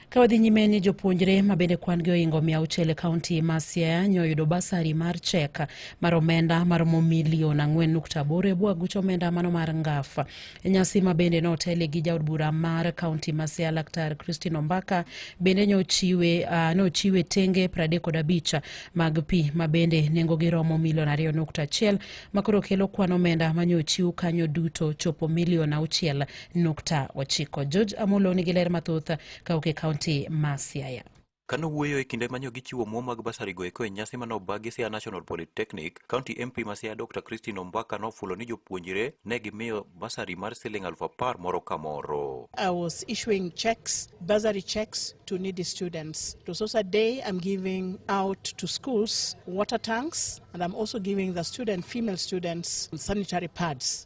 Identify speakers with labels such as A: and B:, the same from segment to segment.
A: Ka wadhi nyime ni jopuonjre ma bende kwan gi ohingo mia auchiel e kaunti ma Siaya nyo oyudo basari mar chek mar omenda maromo milion ang'wen nukta aboro e bwo aguch omenda mano mar ngaf. E nyasi ma bende notele gi jaod bura mar kaunti ma Siaya Laktar Christine Ombaka bende nochiwe uh, nochiwe tenge pradek kod abich mag pi ma bende nengogi romo milion ariyo nukta achiel ma koro kelo kwan omenda ma nyo ochiw kanyo duto chopo milion auchiel nukta ochiko. George Amolo nigi ler mathoth kawuok e kaunti ma Siaya. Ka nowuoyo e
B: kinde manyo gichiwo omuom mag basarigo eko e nyasi mane oba gi Siaya National Polytechnic, County MP ma Siaya Dr. Christine Ombaka nofulo ni jopuonjre ne gimiyo basari mar siling aluf apar moro ka moro. I was issuing
C: checks, bursary checks to needy students. It was also a day I'm giving out to schools water tanks and I'm also giving the student, female students sanitary pads.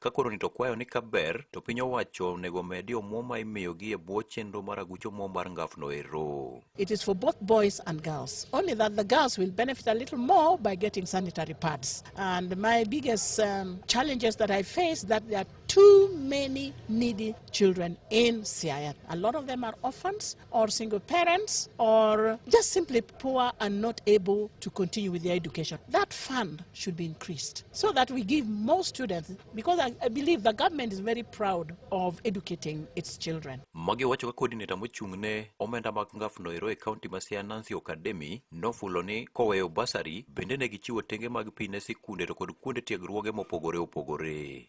B: Ka koro ni to kwayo ni kaber to piny owacho onego omedi omuom ma imiyogi e bwo chenro mar aguch omuom mar ngafno ero. It is for both
C: boys and girls, only that the girls will benefit a little more by getting sanitary pads. And my biggest um, challenges that I face that there are too many needy children in Siaya. A lot of them are orphans. or single parents or just simply poor and not able to continue with their education. That fund should be increased so that we give more students because I, I believe the government is very proud of educating its children. Magi wacho ka coordinator
B: mochung' ne omenda mag ngaf noero e county ma Siaya Nancy Okademi nofulo ni koweyo basari bende ne gichiwo tenge mag pi ne sikunde to kod kuonde tiegruoge mopogore opogore.